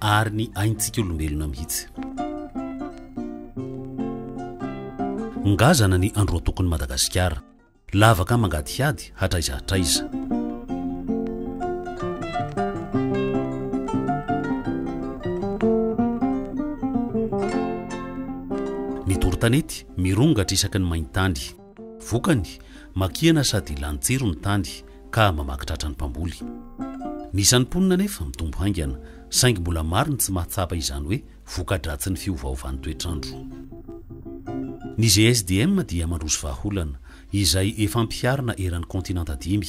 ary ny aintsika olombelona mihitsy. Ngazana ny androatokon'i Madagasikara, lavaka mangadihady hatraiza hatraiza. Ny doro-tanety mirongatra isaky ny main-tany. Vokany, makihana sady lany jiro ny tany ka mamaky tratra ny mpamboly. Ny isan'ny mponina anefa mitombo haingana, saingy mbola maro ny tsy mahatsapa izany hoe voka-dratsin'ny fiovaovan'ny toetr'andro. Ny GSDM dia mandroso vahaolana, izay efa ampiharina eran'ny kaontinanta dimy,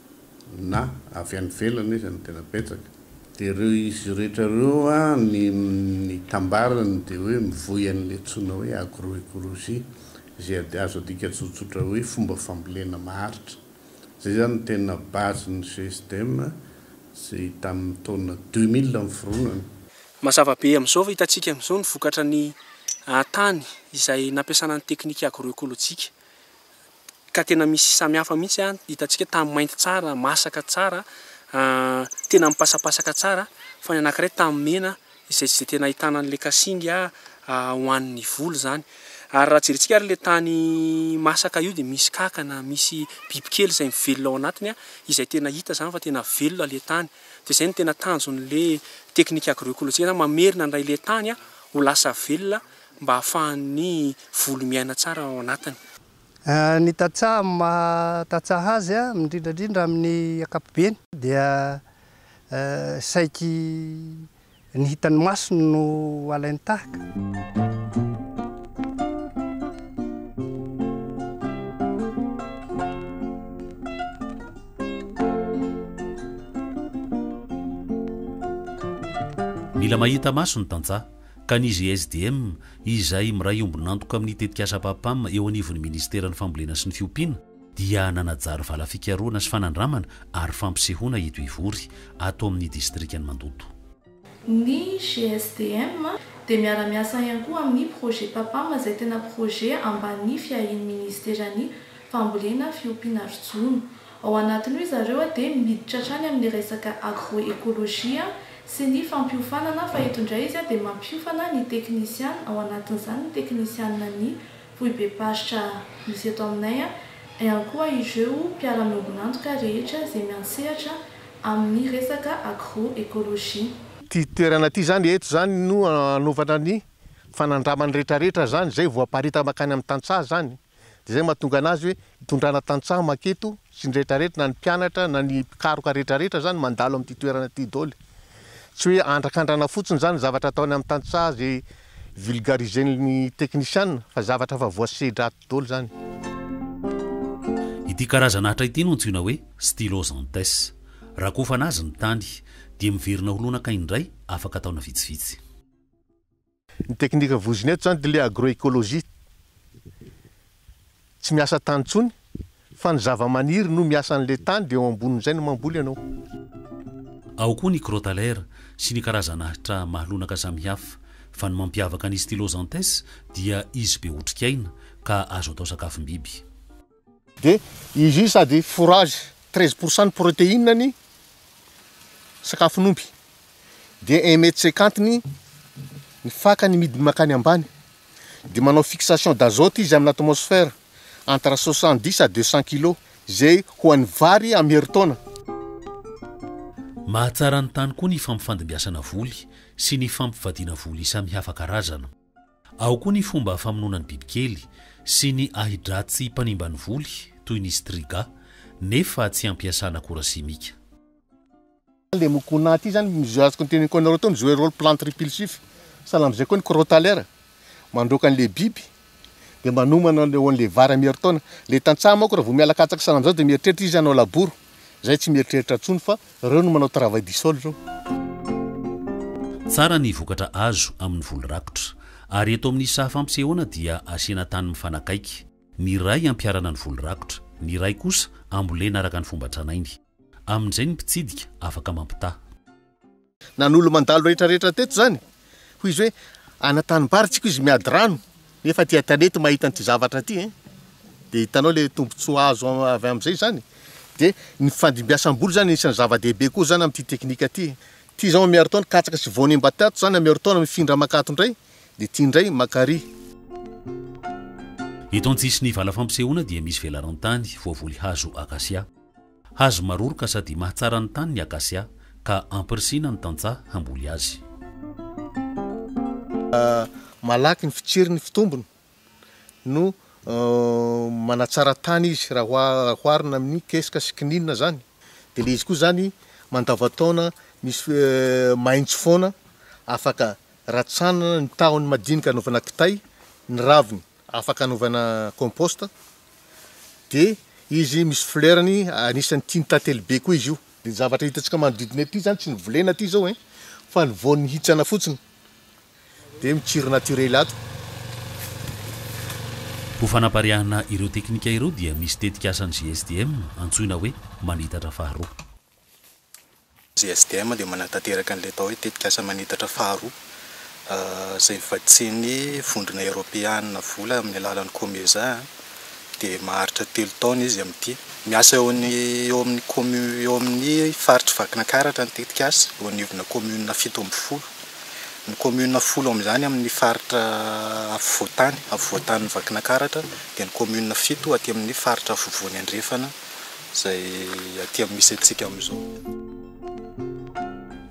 na avy any ivelany aza no tena betsaka. Dia ireo izy rehetra ireo ny ny tambarany dia hoe mivoy an'ilay antsoina hoe agro-ecologie izay azo adika tsotsotra hoe fomba fambolena maharitra. Izay izany no tena base ny GSDM izay tamin'ny taona deux mille niforonany. Mazava be amin'izao fa hitantsika amin'izao ny vokatra ny tany izay nampiasana ny teknika agro-ekolojika. ka tena misy samihafa mihitsy an, hitantsika tamin'ny mainty tsara, masaka tsara, tena mipasapasaka tsara, fa ny anankiray tamin'ny mena izay izay tena ahitana an'ilay kasinga ho an'ny voly izany. Ary raha jerintsika ary ilay tany masaka io dia misy kankana, misy bibikely izay mivelona ao anatiny an, izay tena hita izany fa tena velona ilay tany. Dia izay no tena tanjon'ilay teknika agroecologique izany, mamerina indray ilay tany ho lasa velona mba hahafahan'ny volo miaina tsara ao anatiny. Ny tantsaha amin'ny maha tantsaha azy, indrindra indrindra amin'ny ankapobeny, dia saiky ny hitan'ny maso no alainy tahaka. Mila mahita maso ny tantsaha, ka ny GSDM, izay miray ombon'antoka amin'ny tetikasa PAPAM eo anivon'ny Minisiteran'ny Fambolena sy ny Fiompiana, dia nanajary vala fikarohana sy fanandramana ary fampisehoana eto Ivory, ato amin'ny distrikan'i Mandoto. Ny GSDM dia miara-miasa ihany koa amin'ny projet PAPAM izay tena projet ambany fiahian'ny Minisiteran'ny Fambolena, Fiompiana ary Jono. Ao anatin'io izareo dia miditra hatrany amin'ny resaka agro-ekolojia sy ny fampiofanana fa eto indray izy dia mampiofana ny teknisiana, ao anatin'izany ny teknisiana ny foibem-paritra misy eto aminay ihany koa ireo mpiara-miombon'antoka rehetra izay miantsehatra amin'ny resaka agro-ekolojia. Ity toerana ity izany eto izany no hanaovana ny fanandramany rehetrarehetra izany izay voaparita mankany amin'ny tantsaha izany. Dia izay no mahatonga anazy hoe hitondrana tantsaha maketo sy ny rehetrarehetra na ny mpianatra na ny mpikaroka rehetrarehetra izany mandalo amin'ity toerana ity doly. Tsy hoe andrakandrana fotsiny izany ny zavatra ataony amin'ny tantsaha izay vulgarisen'ny teknisiana fa zavatra efa voasedra ato doly izany. Ity karazana atra ity no antsoina hoe Stylosanthes. Rakofana azy ny tany, dia miverina ho lonaka indray afaka taona vitsivitsy. Ny teknika voizina eto izany dia ilay agroecologie. Tsy miasa tany intsony fa ny zavamaniry no miasa an'ilay tany dia eo ambonin'izay no mamboly ianao. Ao koa ny crotalaire sy ny karazan'ahitra mahalonaka samihafa fa ny mampiavaka ny Stylosanthes dia izy be otrikaina ka azo atao sakafom-biby. Dia izy io sady fourrage, treize pour cent ny protéine ny sakafon'omby. Dia un mètre cinquante ny ny fakany midiny mankany ambany. Dia manao fixation d'azote izy amin'ny atmosphère entre soixante dix à deux cent kilos, izay ho an'ny vary amin'ny herintaona. Mahatsara ny tany koa ny fampifandimbiasana voly sy ny fampivadiana voly samihafa karazana. Ao koa ny fomba famonoana ny bibikely sy ny ahi-dratsy mpanimba ny voly toy ny striga nefa tsy ampiasana akora simika. Le mucuna ty zany mizoe azo contenu con roto mizoe role plante repulsif sahala amzay koa ny crotalaire mandroaka anle biby de manomana le onle vary am heritaona le tantsaha manko raha vo miala katsaka sahala amzao de mieritreritra izy hanao laboro zay tsy mieritreritra tsony fa Reo no manao travail du sol reo. Tsara ny vokatra azo amin'ny voly rakotra. Ary eto amin'ny saha fampisehoana dia asiana tany mifanakaiky. Ny iray ampiharana ny voly rakotra, ny iray kosa ambolena araka ny fomba tranainy. Amin'izay ny mpitsidika afaka mampitaha. Na ny olo-mandalo rehetra rehetra teto izany Hoy izy hoe, Ana tanimbaritsiko izy miady rano, nefa aty an-tanety mahita an'ity zavatra ity e! Dia hitanao ilay tombontsoa azo avy amin'izay izany. Dia ny fandimbiasam-boly izany anisan'ny zava-dehibe koa izany amin'ity teknika ity. Ity izao miaro taona katsaka sy voany mba tato izany a, miaro taona mifindra mankato indray, dia ity indray mankarỳ. Eto an-tsisin'ny vala fampisehoana dia misy velarantany voavoly hazo akasia. Hazo maroroka sady mahatsara ny tany ny akasia, ka ampirisihina ny tantsaha hamboly azy. Malaky ny fitsiriny fitombony no manatsara tany izy raha oharina amin'ny kesika sy kininina zany de le izy koa zany mandavan-taona misy maitso foana afaka ratsanana ny tahony madinika anaovana kitay ny raviny afaka anaovana compost dia izy misy fleurny anisany tian'ny tantely be koa izy io de ny zavatra hitantsika manodidina ety zany tsy novolena aty zao ein fa ny voany mihitsana fotsiny de mitsiry naturely ato. Ho fanapariahana ireo teknika ireo dia misy tetik'asan'ny GSDM antsoina hoe manitatra faharoa. JSDM dia manatanteraka an'ilay atao hoe tetikasa manitatra faharoa, izay vatsian'ny Vondrona Eoropeana vola amin'ny alalan'ny Comesa, dia maharitra telo taona izy amin'ity. Miasa eo amin'ny commune eo amin'ny faritr'i Vakinakaratra ny tetikasa, eo anivonà commune fito ambin'ny folo. Ny commune folo amin'izany amin'ny faritra afovoan-tany, afovoan-tanin'i Vakinakaratra, dia ny commune fito aty amin'ny faritra afovoany andrefana. izay aty amin'ny misy antsika amin'izao.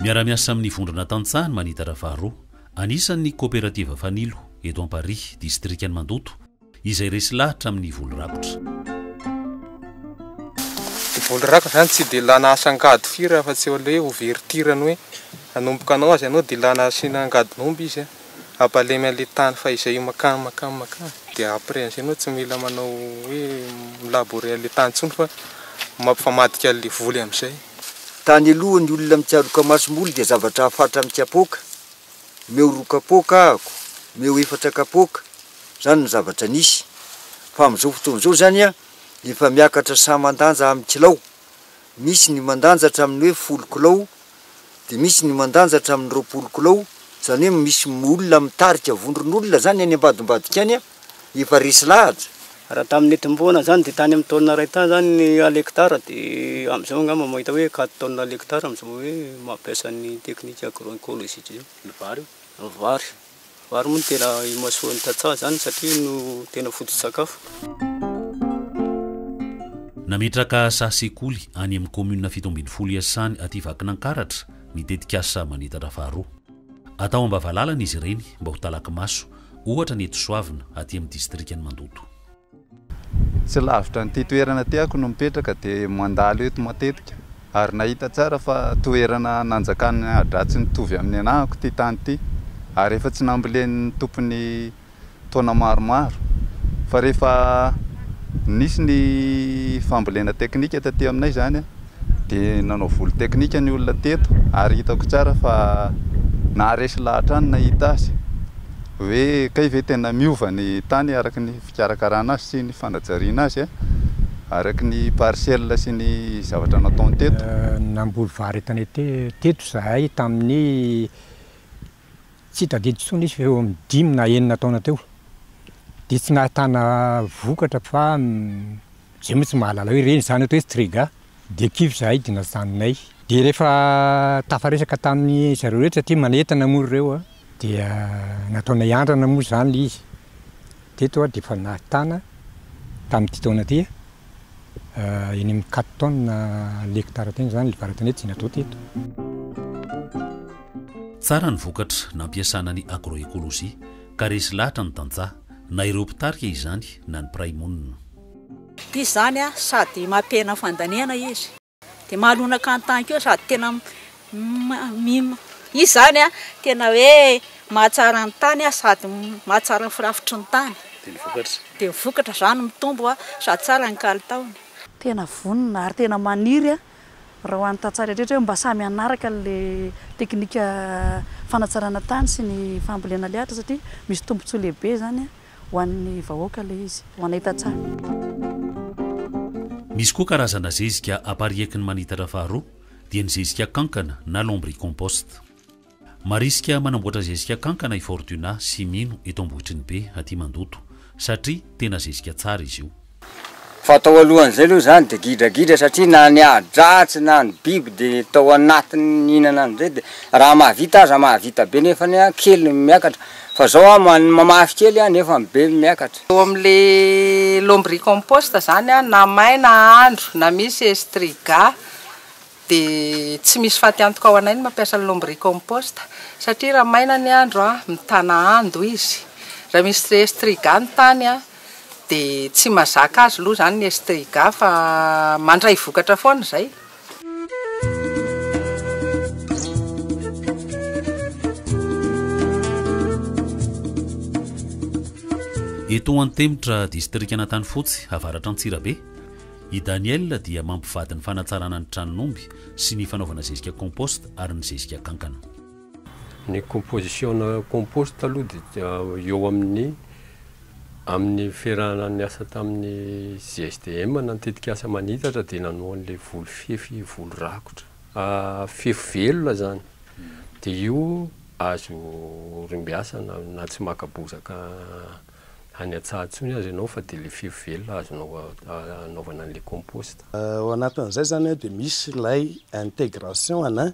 Miara-miasa amin'ny Vondrona Tantsaha ny Manitatra faharoa. Anisan' ny Koperativa Fanilo, eto Amparihy, Distrikan' ny Mandoto, izay resy lahatra amin' ny voly rakotra. Ny voly rakotra izany tsy dia ilana asa angady firy afa-tsy eo aloha hoe ouverture ny hoe hanomboka hanao azy ianao dia ilana asiana angadin'omby izy. Abalemy anle tany fa izay io makany makany makany dia après anzay enao tsy mila manao hoe milaborer anle tany tsony fa mampifamadika anle voly amzay. Tany aloha ny olona mitsaroka masomboly dia zavatra hafatra amin'ny kapoaka, omeo roa kapoaka ahako, omeo efatra kapoaka, zany no zavatra nisy, fa amin'izao fotoana izao zany efa miakatra saman-danja amin'ny kilao, Misy ny mandanja hatramin'ny hoe folo kilao, dia misy ny mandanja hatramin'ny roapolo kilao, izany hoe misy olona mitarika vondron'olona izany any ambadimbadika any efa resy lahatra. Raha tamin'ny nitomboana izany dia tany amin'ny taonina iray tany izany ny alekitara dia amin'izao angamba mahita hoe quatre tonnes alekitara amin'izao hoe mampiasa ny teknika agro-ecologique izao ny vary. Vary moa no tena imasoan'ny tantsaha izany satria no tena foto-tsakafo. Nametraka saha sekoly any amin'ny kaominina fito ambin'ny folo Iasany aty Vakinankaratra ny tetikasa Manitatra faharoa. Atao am-bavalalana izy ireny mba ho talaky maso, ohatra ny eto Soavina, aty amin'ny distrikan'i Mandoto. Tsy lavitra an'ity toerana tiako no mipetraka dia mandalo eto matetika ary nahita tsara fa toerana nanjakan'ny ahidratsy nitovy amin'ny anahako ity tany ity ary efa tsy nambolen'ny tompony taona maromaro fa rehefa nisy ny fambolena teknika taty aminay izany Dia nanao volo teknika ny olona teto ary hitako tsara fa naharesy lahy hatrany nahita azy. Hoe kay ve tena miova ny tany araka ny fikarakarana azy sy ny fanajariana azy araka ny parcelle sy ny zavatra nataony teto? Namboly vary etanete teto izahay tamin'ny Tsy tadidy intsony izy fa eo amin'ny dimy na enina taona teo dia tsy nahatana vokatra fa izay moa tsy mahalala hoe reny izany eto hoe strega dia kivy izahay dia najanonay. Dia rehefa tafaresaka tamin'ny zareo rehetra satria manentana moa ry reo a, dia nataonay andrana moa izany ilay izy. Teto aho dia efa nahatana tamin'ity taona ity a, eny amin'ny quatre tonnes l'hectare teny izany, ilay varantoana eto, Zinadro teto. Tsara ny vokatra nampiasana ny agroecologie ka resy lahatra ny tantsaha, na ireo mpitarika izany na ny mpiray monina. Ity izany sady mampihena fandaniana izy. dia mahalonaka an-tany koa sady tena izy izany an, tena hoe mahatsara ny tany sady mahatsara ny firafitry ny tany, dia ny vokatra izany mitombo sady tsara ny kalitaony. Tena vonona ary tena maniry raha ho an'ny tantsaha rehetra hoe mba samy hanaraka an'ilay teknika fanatsarana tany sy ny fambolena alihatra satria misy tombontsoa lehibe izany. Ho an'ny vahoaka ilay izy. Ho anay tantsaha. Misy koa karazana zezika apariaky ny manitatra faharoa dia ny zezika kankana na lombricompost. Marisika manamboatra zezika kankana i Fortuna sy Mino eto Ambohitrinibe aty Mandoto satria tena zezika tsara izy io. Fa tao alohan'izay aloha izany dia gidragidra satria na ny ahi-dratsy na ny biby dia tao anatiny nihinana an'izay dia raha mahavita aza mahavita be nefany an kely no miakatra fa izao an mamafy kely an nefa ny be miakatra. Eo amin'le lombricompost zany an na may na andro na misy estriga dia tsy misy faty antoka ho anay ny mampiasa ny lombricompost satria raha maina ny andro an mitana ando izy raha misy estriga ny tany an. Dia tsy mazaka azy loha zany ny estriga fa mandray vokatra foana zay. Eto Antemitra, distrikan'Antanifotsy, avaratr'Antsirabe, i Daniel dia mampivady ny fanatsarana ny tranon'omby sy ny fanaovana zezika compost ary ny zezika kankana. Ny composition-na compost aloha dia eo amin'ny amin'ny fiarahana niasa tamin'ny GSDM na ny tetikasa manitatra dia nanao an'ilay voly fefy voly rakotra fefy velona izany dia io azo orimbiasana na tsy maka bozaka any an-tsaha intsony aza ianao fa dia ilay fefy velona azonao anaovana an'ilay compost. Ao anatin'izay izany dia misy ilay intégration ana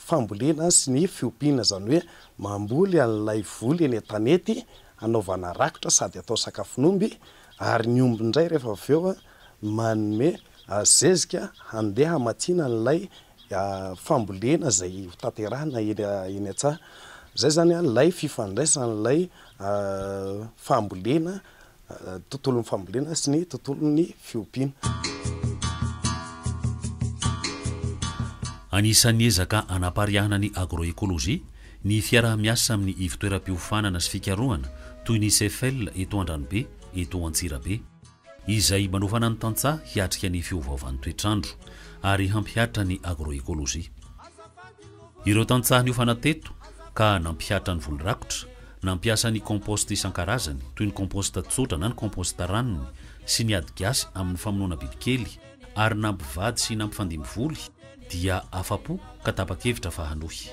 fambolena sy ny fiompiana, izany hoe mamboly an'ilay voly eny an-tanety hanaovana rakotra sady atao sakafon'omby ary ny omby indray rehefa avy eo manome zezika handeha hamatsiana an'ilay fambolena izay ho tanterahina eny an-tsaha. Izay izany ilay fifandraisan'ilay fambolena, tontolon'ny fambolena sy ny tontolon'ny fiompiana. Anisan'ny ezaka hanapariahana ny agroécologie ny fiaraha-miasa amin'ny ivontoeram-piofanana sy fikarohana toy ny CEFEL eto Andranobe, eto Antsirabe. izay manofana ny tantsaha hiatrika ny fiovaovan'ny toetr'andro ary hampihatra ny agroekolojia. Ireo tantsaha niofana teto ka nampihatra ny voly rakotra, nampiasa ny compost isan-karazany toy ny compost tsotra na ny compost ranony sy ny ady gasy amin'ny famonoana bibikely ary nampivady sy nampifandimby voly dia afa-po ka tapa-kevitra fa hanohy.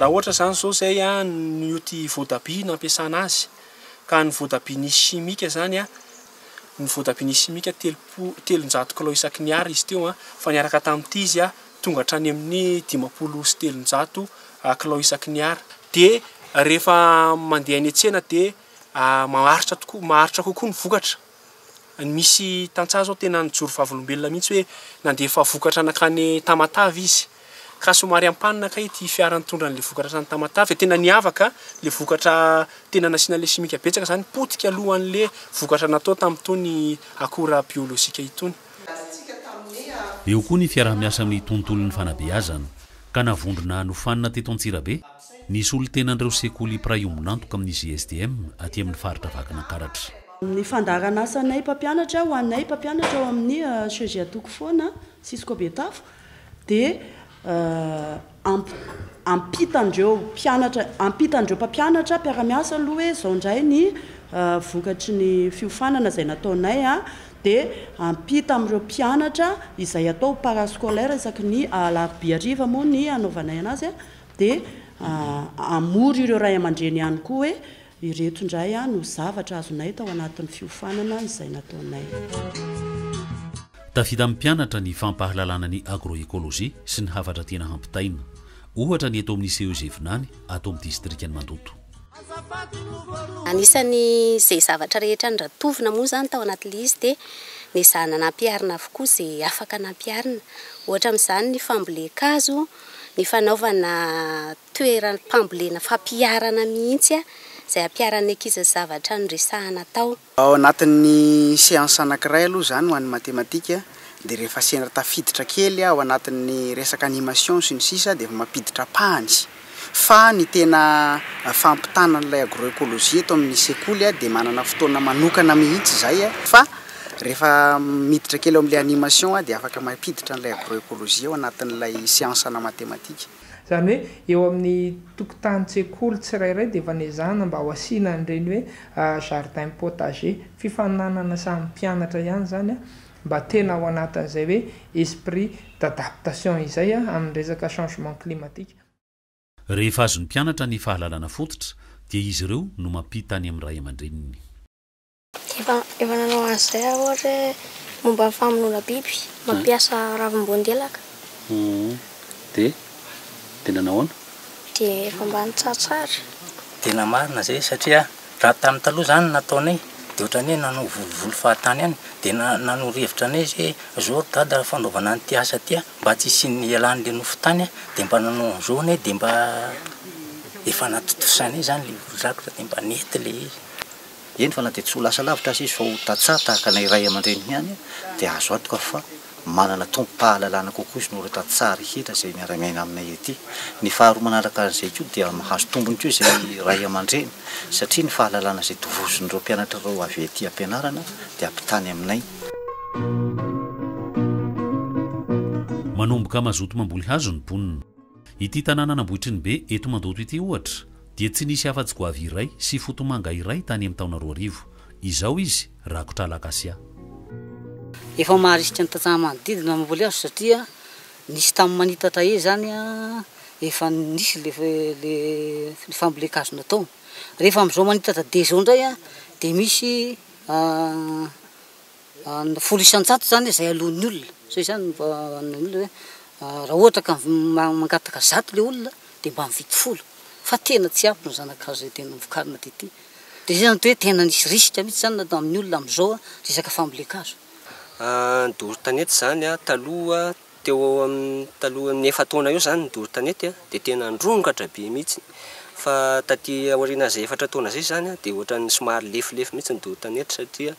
Raha ohatra izany izao izay no tia voatabia nampiasana azy. Ka ny voatabia nisy simika izany, ny voatabia nisy simika telopolo, telonjato kilao isaky ny Ar izy teo, fa niaraka tamin'ity izy tonga hatrany amin'ny dimampolo sy telonjato kilao isaky ny Ar. Dia rehefa mandeha any an-tsena dia maharitra tokoa, maharitra kokoa ny vokatra. Misy tantsaha zao tena nijoro vavolombelona mihitsy hoe nandefa vokatra nankany Tamatave izy ka somary ampanina kay ity fiara nitondra an'le vokatra hatrany Tamatave, tena niavaka le vokatra tena nasiana le simika betsaka zany potika aloha an'le vokatra natao tamin'itony akora biolojika itony. Eo koa ny fiaraha-miasa amin'ny tontolon'ny fanabeazana ka navondrona nofanina teto Antsirabe. Ny solontenan'ireo sekoly mpiray ombon'antoka amin'ny GSDM aty amin'ny faritra Vakinankaratra. Ny fandaharan'asanay mpampianatra, ho anay mpampianatra ao amin'ny CEG Atokofoana, Cisco Betafo, dia hampita an'ireo mpianatra, hampita an'ireo mpampianatra mpiara-miasa aloha hoe izao indray ny vokatry ny fiofanana izay nataonay, dia hampita amin'ireo mpianatra izay atao ho parascolaire isaky ny alarobia hariva moa ny hanaovanay an'azy, Dia hamory ireo ray aman-dreny ihany koa hoe ireto indray no zavatra azonay tao anatin'ny fiofanana izay nataonay. Tafita amin'ny mpianatra ny fampahalalana ny agroecologie sy ny hafatra tiana hampitaina. Ohatra ny eto amin'ny CEG Vinany, ato amin'ny distrikan'i Mandoto. Anisan'izay zavatra rehetra norantovina moa izany tao anatin'ilay izy dia nezahina nampiharina avokoa izay afaka nampiharina. Ohatra amin'izany ny fambolen-kazo. ny fanaovana toeram-pambolena fampiharana mihitsy izay hampiharan'ny ankizy ny zavatra noresahana atao. Ao anatin'ny seance anankiray aloha izany ho an'ny matematika dia rehefa sendra tafiditra kely ao anatin'ny resaka animation sy ny sisa dia efa mampiditra pahany fa ny tena fampitana an'ilay agroecologie eto amin'ny sekoly dia manana fotoana manokana mihitsy izay fa Rehefa miditra kely ao amin'ilay animation aho dia afaka mampiditra an'ilay agroecologie ao anatin'ilay siansa ana matematika. Izany hoe eo amin'ny tokotanin-tsekoly tsirairay dia efa nezahina mba ho asiana an'ireny hoe jardin potager. Fifaninanana samy mpianatra ihany izany mba tena ao anatin'izay hoe esprit d'adaptation izay amin'ny resaka changement climatique. Rehefa azon'ny mpianatra ny fahalalana fototra dia izy ireo no mampita any amin'ny ray aman-dreniny. Efa efa nanao an'izay aho ohatra hoe momba ny famonoana biby, mampiasa ravim-boandelaka. Dia dia nanao ahoana? Dia efa mba nitsatsara. Tena marina izay satria raha tamin'ny taloha izany ny nataonay dia ohatran'ny hoe nanao volovolo fahatany ihany dia na- nanoro hevitra anay izy hoe izao ry dada raha fanaovana an'ity asa ity a mba tsy hisian'ny hialan'ilay nofo tany a dia mba nanao an'izao anay dia mba efa natontosanay izany ilay olon-drakitra dia mba nety ilay izy. eny fa na dia tsy ho lasa lavitra aza izy fa ho tantsaha tahaka anay ray aman-dreny ihany dia azo antoka fa manana tompom-pahalalana kokoa izy noho ireo tantsaha rehetra izay miara-miaina aminay ety. Ny faharoa manaraka an'izay koa dia mahazo tombony koa izay ray aman-dreny satria ny fahalalana izay tovozin'ireo mpianatra ireo avy ety am-pianarana dia ampitany aminay. Manomboka mazoto mamboly hazo ny mponina. Ity tanànan'Ambohitrinibe eto Mandoto ity ohatra dia tsy nisy afa-tsy goavy iray sy fotomanga iray tany amin'ny taona roa arivo. Izao izy rakotra alakasia. Efa maharisika ny tantsaha manodidina ny voly azo satria nisy tamin'ny manitatra ey zany efa nisy le le le fambolen-kazo natao. Rehefa amzao manitatra de zao ndray dia misy ny folo isan-jato izany izay aloan'ny olona, zay izany no vahaolana hoe raha ohatra ka mangataka zato ilay olona dia mba mividy folo fa tena tsy ampy ny zana-kazo izay tena vokarina dia ity, dia izay no hoe tena nisy risque mihintsy izany natao amin'ny olona amin'izao resaka fambolen-kazo. Ny doro tanety izany taloha Teo ho eo amin'ny talohan'ny efa-taona eo izany ny doro tanety dia tena nirongatra be mihitsy. Fa taty aorianan'izay efatra taona izay izany dia ohatran'ny somary lefilefy mihitsy ny doro tanety satria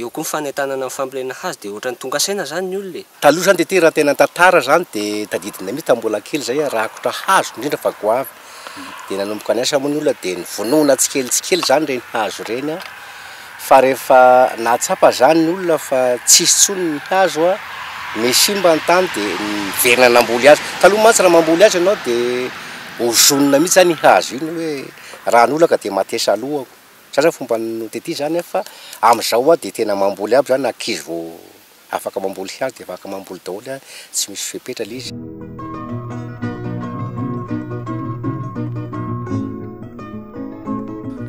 eo koa ny fanentanana ny fambolena hazo dia ohatran'ny tonga saina izany ny olona e! Taloha izany dia ity raha ny tena tantara izany dia tadidinay mihitsy tamin'ny mbola kely izay rakotra hazo indrindra fa goavy dia nanomboka niasa moa ny olona dia nivonona tsikelikely tsikelikely izany ireny hazo ireny an, fa rehefa nahatsapa izany ny olona fa tsy hisy intsony ny hazo an, me simba ny tany dia niverina namboly hazo, taloha mantsy raha mamboly hazo ianao dia ozonina mihintsy izany iny hazo iny hoe raha ny olako dia matesa alohako, izay izany fomba notetiza izany an, fa amin'izao an dia tena mamboly aby izany ankizy vao Afaka mamboly hazo dia afaka mamboly daholo a, tsy misy fepetra le izy.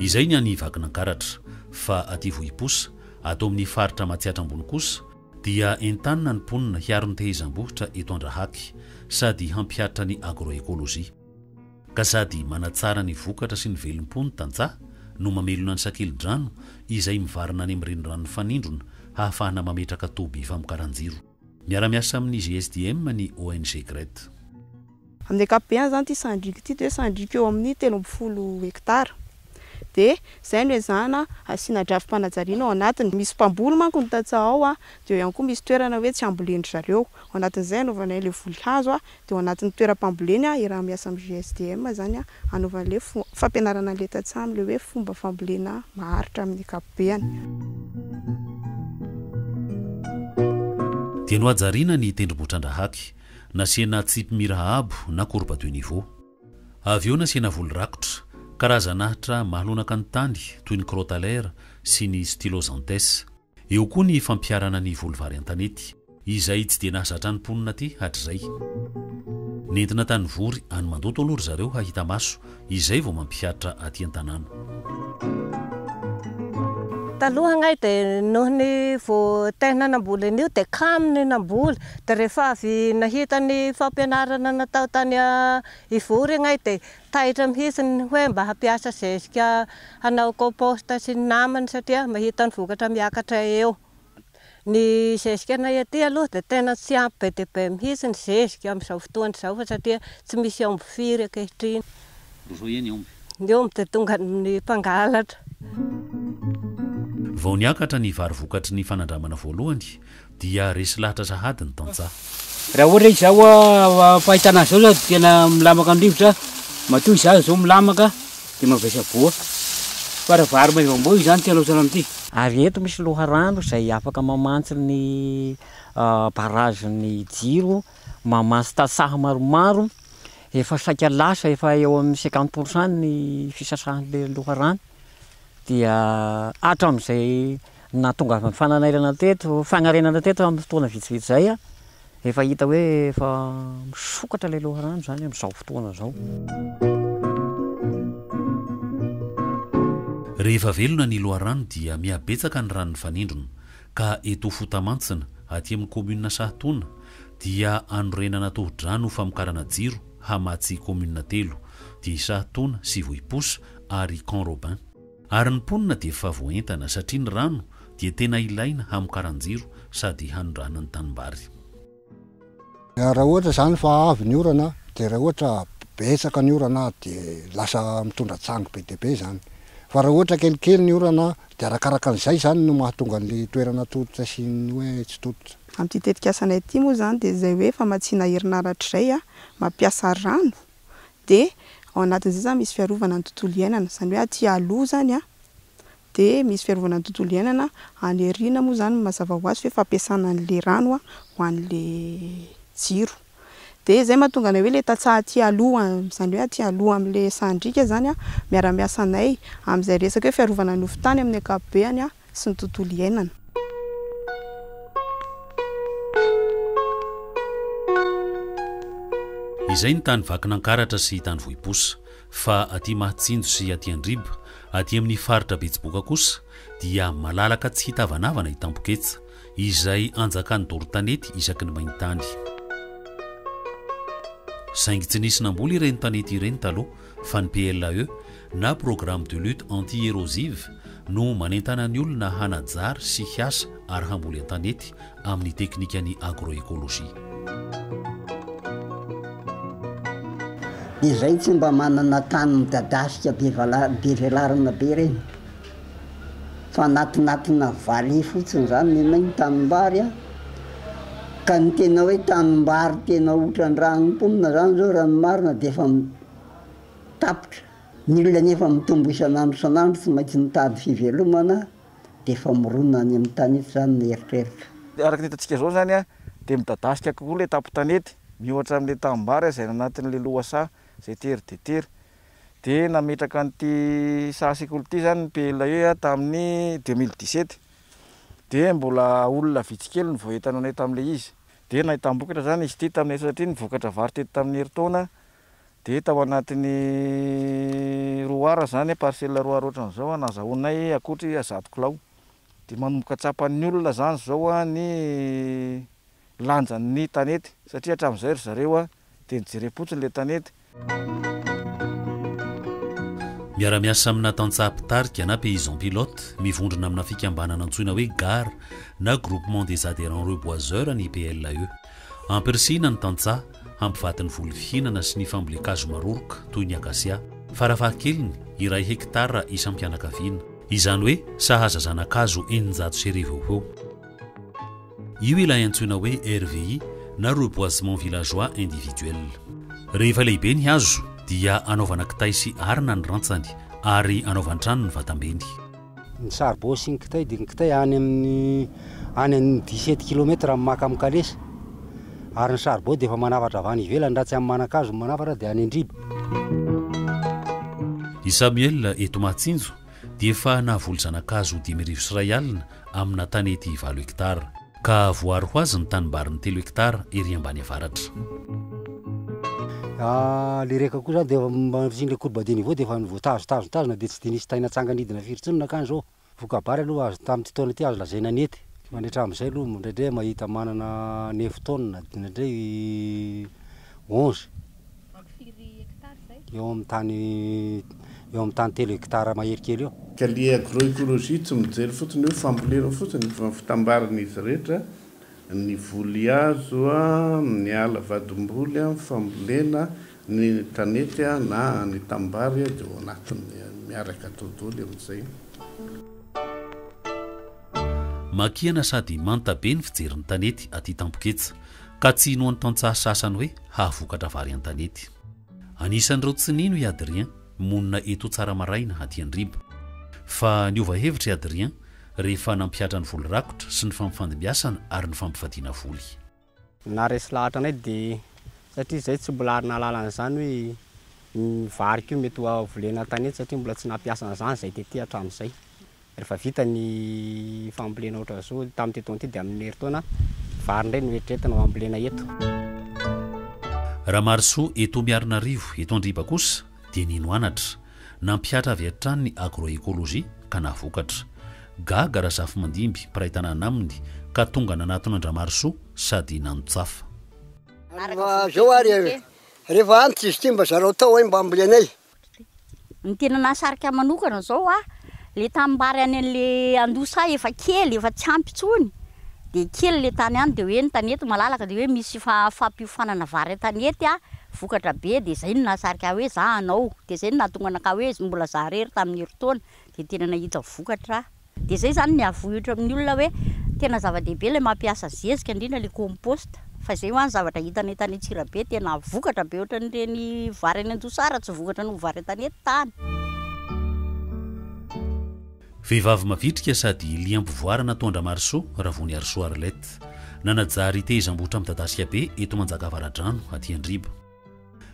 Izay ny any Vakinankaratra. Fa aty Vohiposa, ato amin'ny faritra Matsiatra Ambony kosa, dia entanina ny mponina hiaro ny tehezam-bohitra eto Andrahaky, sady hampihatra ny agro-écologie. ka sady manatsara ny vokatra sy ny velom-po ny tantsaha no mamelona ny sakeli-drano izay mivarina any amin'ny renirano mifanindrona hahafahana mametraka toby famokaran-jiro. Miara-miasa amin'ny GSDM ny ONG Gret. Amin'ny ankapobeny izany ity sandriko ity dia hoe sandriko eo amin'ny telo ambin'ny folo hektara. Dia izay no ezahana hasiana drafi-panajariana ao anatiny. Misy mpamboly manko ny tantsaha ao dia eo ihany koa misy toerana hoe tsy ambolen-dry zareo. Ao anatin'izay anaovanay ilay voly hazo Dia ao anatin'ny toeram-pamboleny hiaraha-miasa amin'ny GSDM izany hanaovana ilay fampianarana an'ilay tantsaha amin'ilay hoe fomba fambolena maharitra amin'ny ankapobeany. Dia nohajariana ny tendrombohitran-drahaky, nasiana tsipy mira abo na courbe de niveau. Avy eo nasiana voly rakotra, karazan'ahitra mahalonaka ny tany toy ny crotalaire sy ny styloxanthes. Eo koa ny fampiharana ny voly vary an-tanety, izay tsy dia nahazatra ny mponina aty hatrizay. Nentina tany Vory, any Mandoto aloha ry zareo hahita maso, izay vao mampihatra aty an-tanàna. Taloha angahy dia noho ny vao tehina namboly an'io dia kamo ny namboly, dia rehefa avy nahita ny fampianarana natao tany Ivory angahy dia Taitra mihitsy ny hoe mba hampiasa zezika hanao compost sy ny namany satria mahita ny vokatra miakatra eo. Ny zezikanay aty aloha dia tena tsy ampy be dia be mihitsy ny zezika amin'izao fotoana izao fa satria tsy misy omby firy ankehitriny. Roa zao iany omby. Ny omby dia tonga amin'ny mpangalatra. Vao niakatra ny vary vokatry ny fanandramana voalohany, dia resy lahatra sahady ny tantsaha. Raha ohatra izaho am-pahitana azy izao tena milamaka ny rivotra, matoa izaho izao milamaka dia mavesa-boa fa raha vary maivam-boa izany tsy halaotra amin'ity. Ary eto misy loharano izay afaka mamantsy ny barrage ny jiro, mamantsy tantsaha maromaro, efa saika lasa efa eo amin'ny cinquante pour cent ny fisasahan'ilay loharano dia hatramin'izay Ny nahatongavan'ny fananaiana teto, fagnarenana teto amin'ny fotoana vitsivitsy izay, efa hita hoe efa misokatra ilay loharano izany amin'izao fotoana izao. Rehefa velona ny loharano dia mihabetsaka ny rano nifanindrona, ka eto Fotamantsina, aty amin'ny kaominina Sahatoana, dia anorenana tohodrano ho famokarana jiro hamatsy kaominina telo, dia i Sahatoana sy Vohiposa ary Camp Robin. Ary ny mponina dia efa voaentana satria ny rano dia tena ilaina hamokaran-jiro sady hanondrana ny tanimbary. Raha ohatra izany fa avy ny orana dia raha ohatra betsaka ny orana dia lasa mitondra tsangy be dia be izany. Fa raha ohatra kelikely ny orana dia arakaraka an'izay izany no mahatonga an'ilay toerana tototra sy ny hoe tsy tototra. Amin'ity tetikasanay ity moa izany dia izay hoe famatsiana herinaratra izay, mampiasa rano dia ao anatin'izay izany misy fiarovana ny tontolo iainana, izany hoe aty aloha izany an, dia misy fiarovana ny tontolo iainana, any aoriana moa izany mazava ho azy fa hoe fampiasana an'ilay rano an, ho an'ilay jiro. Dia izay no mahatonga anay hoe ilay tantsaha aty aloha, izany hoe aty aloha amin'ilay sahan-driaka izany an, miara-miasa anay amin'izay resaka hoe fiarovana ny hofon-tany amin'ny ankapobeny an, sy ny tontolo iainana. Izay ny tany Vakinankaratra sy tany Vohiposa. Fa aty Mahatsinjo sy aty Andriba, aty amin'ny faritra Betsiboka kosa dia malalaka tsy hitavanavana i Tampoketsa, izay anjakan'ny doro tanety isaky ny main-tany. Saingy tsy nisy namboly ireny tanety ireny taloha, fa ny PLAE na Programme de lutte anti-érosive no manentana ny olona hanajary sy hiasa ary hamboly an-tanety amin'ny teknikan'ny agro-écologie. Izay tsy mba manana tany midadasika be velarana be ireny. fa anatinatina valiha fotsiny izany nenay ny tanimbary a! ka ny tena hoe tanimbary tena otran-draha ny mponina izany zao raha ny marina dia efa tapitra, ny olona nefa mitombo isan'andro isan'andro tsy maintsy mitady fivelomana dia efa mirona any amin'ny tanety izany ny eritreritra. Araka ny hitantsika izao izany a! dia midadasika kokoa ilay tampon-tanety miohatra amin'ilay tanimbary izay any anatin'ilay lohasaha izay tery dia tery, dia nametraka an'ity saha sekoly ity izany ny PLAE tamin'ny deux mille dix sept dia mbola olona vitsy kely no vao entananay tamin'ilay izy dia nahitam-bokatra izany izy ity taminay satria ny vokatra vary teto tamin'ny herintaona dia tao anatin'ny roa ar izany parcelle roa ar ohatran'izao no azahoanay ankoatry zato kilao dia manomboka tsapan'ny olona izany izao ny lanjan'ny tanety satria hatramin'izay ry zareo dia nijerem-potsiny ilay tanety Miara-miasa amina tantsaha mpitarika na paysan pilote mivondrona amina fikambanana antsoina hoe gar na Groupement des Adhérents Reboiseurs ny PLAE. Ampirisihina ny tantsaha hampivady ny voly fihinana sy ny fambolen-kazo maroroka toy ny akasia, farafahakeliny iray hekitara isam-pianakaviana. Izany hoe sahaza zana-kazo eninjato sy arivo eo ho eo. Io ilay antsoina hoe RVI na Reboisement Villageois Individuel. Rehefa lehibe ny hazo dia anaovana kitay sy arina ny rantsany ary anaovan-trano ny vatambeny. Ny saribao sy ny kitay dia ny kitay any amin'ny any amin'ny dix sept kilomètre amin'ny maka amin'ny kalesa ary ny saribao dia efa manafatra avy any ivelany raha tsy amin'ny manan-kazo ny manafatra dia any an-driba. I Samuel eto Mahatsinjo dia efa nahavoly zanakazo dimy arivo sy iray alina amina tany ety valo hektara. Ka voaro ho azy ny tanimbariny telo hektara ery ambany avaratra. Ilay reka koa izany dia efa mandritrin'ilay courbe de niveau dia efa voatazo tazo tazona dia tsy dia nisy tay natsanganidina firy intsony nankany izao. Voka-bary aloha azo tamin'ity taona ity azo lazaina nety. Mandritra amin'izay aloha indraindray mahita manana neuf tonnes indraindray onze. eo amin'ny tany eo amin'ny tany telo hectare mahery kely eo. Ka le agroecologie tsy mijery fotsiny hoe fambolena fotsiny fa fitambarana izy rehetra, ny voly azo a, ny ala vadim-boly a, fambolena, ny tanety a na ny tanimbary a dia ao anatiny miaraka dodoly amin'izay. Makiana sady manta be ny fijerin'ny tanety aty Tampoketsa. Ka tsy hinoan'ny tantsaha sasany hoe hahavokatra vary an-tanety. Anisan'ireo tsy nino i Adrien, monina eto Tsaramaraina, aty Andriba. Fa niova hevitra i Adrien rehefa nampihatra ny voly rakotra sy ny fampifandimbiasana ary ny fampivadiana voly. Naharesy lahatra anay dia satria izahay tsy mbola ary nahalala an'izany hoe io vary io mety ho volena an-tanety satria mbola tsy nampiasa an'izany izahay tety hatramin'izay. Rehefa vita ny fambolena ohatra zao tamin'ity taona ity dia amin'ny herintaona vary indray no eritreretina ho ambolena eto. Ramarisoa eto Miarinarivo, eto Andriba kosa dia nino anatra, nampihatra avy hatrany ny agro-écologie ka nahavokatra. Gaga Razafimandimby mpiray tanàna aminy ka tonga nanatona an-dRamarisoa sady nanotsafa. Ary raha zao ary rehefa antitra izy ity mba zarao tao hay mba ambolenay. Ny tena nahasarika ahy manokana zao a, le tanimbary any an'le andosa efa kely efa tsy ampy intsony, de kely le tany any de hoe ny tanety malalaka de hoe misy fa- fampiofanana vary an-tanety a, vokatra be, de zay no nahasarika ahy hoe za hanao, de zay no nahatonga anakahy hoe mbola za rery tamin'ny herintaona de tena nahita vokatra. Dia izay izany ny avohitra amin'ny olona hoe tena zava-dehibe ilay mampiasa zezika indrindra ilay compost fa izay ho'a ny zavatra hitany eto any Antsirabe tena vokatra be ohatran'ireny vary any Anjosara tsy vokatra noho vary etan'ny tany. Vehivavy mavitrika sady liam-pivoara natoa an-dRamarisoa, Ravoniarisoa Arlette. Nanajary tehezam-bohitra midadasika be eto Manjakavaradrano, aty Andriba.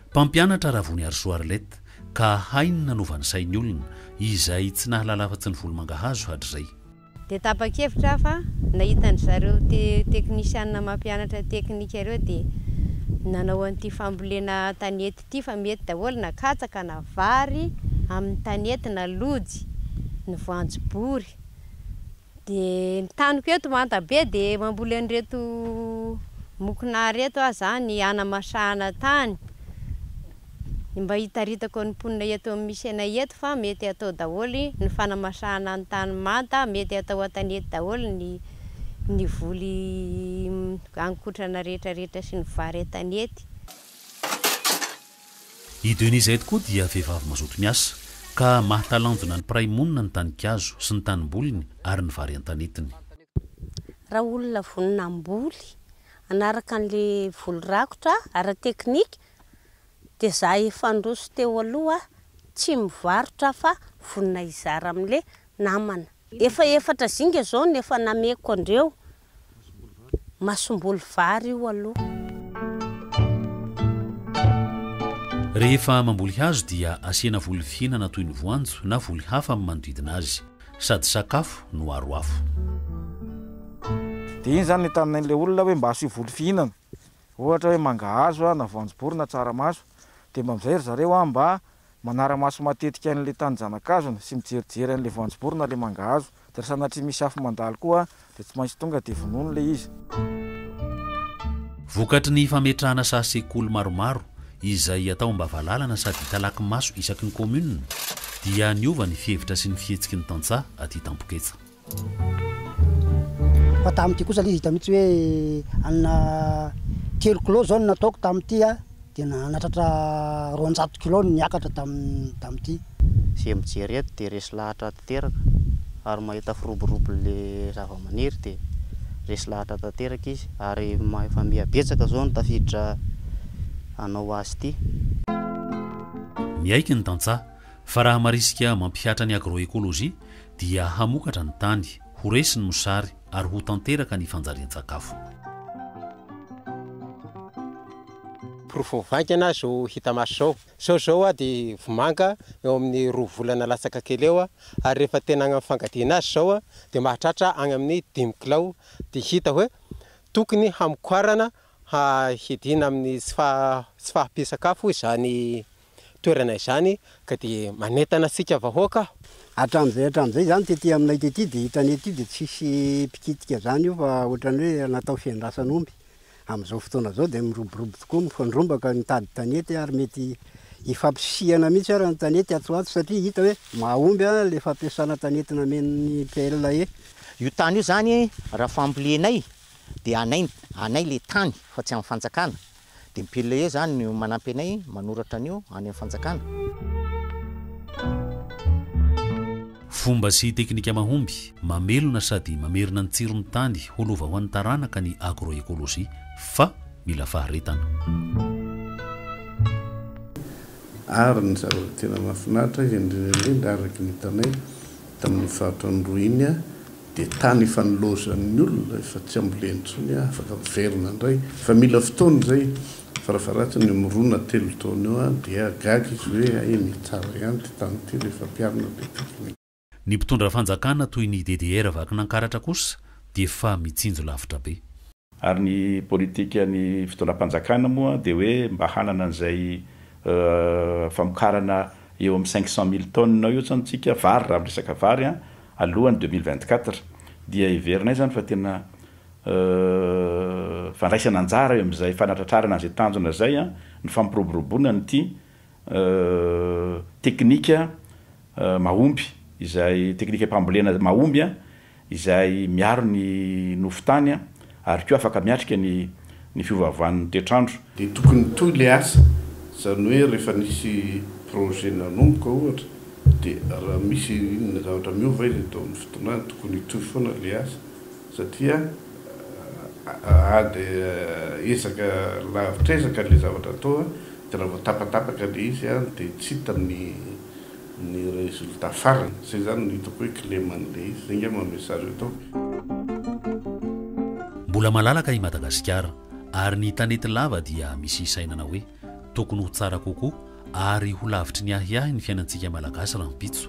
Mpampianatra Ravoniarisoa Arlette ka hainy ny nanova ny sain'ny olona izay tsy nahalala afa-tsy ny volomangahazo hatrizay. Dia tapa-kevitra aho fa nahita an-dry zareo te teknisianina mampianatra teknika ireo dia nanao an'ity fambolena tanety ity fa mety daholo na katsaka na vary amin'ny tanety na lojy ny voanjobory. Dia ny taniko eto manta be dia mamboly an'ireto mokona ireto aho izany hanamasahana tany, dia mba hitaritako ny mponina eto amin'ny misy anay eto fa mety atao daholo ny fanamasahana ny tany manta, mety atao an-tanety daholo ny ny voly haninkotrana rehetrarehetra sy ny vary an-tanety. I Denise izay tokoa dia vehivavy mazoto miasa, ka mahatalanjona ny mpiray monina ny tanikazo sy ny tanimboliny ary ny vary an-tanetiny. Raha olona vonona hamboly hanaraka an'ilay voly rakotra ara-teknika dia za efa handroso teo aloha tsy mivarotra fa vonona hizara amin'ilay namana. Efa efatra zinga izao no efa nameko andreo Masomboly vary io aloha. Rehefa mamboly hazo dia asiana voly fihinana toy ny voanjo na voly hafa amin'ny manodidina azy. Sady sakafo no aro afo. Dia iny izany no hitan'ilay olona hoe mba asio voly fihinana. ohatra hoe mangahazo na voanjobory na tsaramaso, dia mba amin'izay ry zareo mba manara-maso matetika an'ilay tanin-janakazony sy mijerijery an'ilay voanjobory na ilay mangahazo, dia raha sanatria misy afo mandalo koa dia tsy maintsy tonga dia vonoiny ilay izy. Vokatry ny fametrahana saha sekoly maromaro izay atao am-bavalalana sady hitalaky maso isaky ny kaominina dia niova ny fihevitra sy ny fihetsiky ny tantsaha aty Tampoketsa. Fa tamin'ity kosa ilay izy hita mihitsy hoe hanina telo kilao izao no nataoko tamin'ity a, dia nahatratra roanjato kilao no niakatra tamin'ny tamin'ity. Izay mijery eto dia resy lahatra tanteraka ary mahita firoborobo ilay zavamaniry dia resy lahatra tanteraka izy ary efa miha betsaka izao ny tafiditra hanao azy ity. Miaiky ny tantsaha fa raha marisika mampihatra ny agroecologie dia hamokatra ny tany, ho resy ny mosary ary ho tanteraka ny fanjarian-tsakafo. Porofo vainga na zo hita maso zao. Sao izao aho dia vomanga eo amin'ny roa volana latsaka kely eo ary rehefa tena agny amin'ny fangadiana azy izao dia mahatratra agny amin'ny dimy kilao dia hita hoe tokony hamokarana hiadiana amin'ny tsy fahampian-tsakafo izany toerana izany ka dia manentana antsika vahoaka aho. Hatramin'izay hatramin'izay izany tety aminay tety dia hitanay ety dia tsy hisy mpikitika izany io fa ohatran'ny hoe natao fiandrasan'omby. Amin'izao fotoana izao dia miroborobo tokoa, mifandrombaka mitady tanety ary mety hifampisihana mihitsy ary ny tanety atsy ho atsy satria hita hoe mahomby ilay fampiasana tanety namen'ny PLAE. Io tany io izany raha fambolenay dia anay anay ilay tany fa tsy an'ny fanjakana. Dmpile e zany no manampy anay manoratra an'io any am fanjakana. Fomba sy teknika mahomby, mamelona sady mamerina ny tsiron'ny tany ho lova ho an'ny taranaka ny agroecologie fa mila faharetana. Ary ny zavatra tena mahafinaritra indrindra indrindra araky ny hitanay. Tamin'iny faritra an'Iloha iny dia tany efa nilaozan'ny olona, efa tsy ambolena intsony, afaka miverina indray fa mila fotoana izay, farafaharatsiny eo amin'ny roa na telo taona eo dia gaga izy hoe hay anie tsara ihany ity tany ity rehefa ampiharina be teknika. Ny mpitondra fanjakana toy ny DDR vakin'Ankaratra kosa dia efa mitsinjo lavitra be. Ary ny politikan'ny fitondram-panjakana moa dia hoe mba hanana an'izay famokarana eo amin'ny cinq cent mille tonnes eo izany tsika vary raha miresaka vary an, alohan'ny deux mille vingt quatre dia heverinay izany fa tena fandraisana anjara eo amin'izay fanatratrarana an'izay tanjona izay ny fampiroboroboana an'ity teknika mahomby izay teknika mpambolena mahomby izay miaro ny nofo tany ary koa afaka miatrika ny ny fiovaovan'ny toetr'andro. Dia tokony hitohy ilay asa, izany hoe rehefa nisy projet nanomboka ohatra dia raha misy inona zavatra miova izy dia tokony hitohy foana ilay asa. satria ady ezaka lavitr'ezaka ilay zavatra atao dia raha vao tapatapaka ilay izy dia tsy hita ny ny résultat farany, izay izany no hitako hoe kileman'ilay izy, izay angamba message ataoko. Mbola malalaka i Madagasikara ary ny tanety lava dia misy hisainana hoe tokony ho tsara kokoa ary ho lavitry ny ahiahy ny fiainantsika Malagasy rahampitso.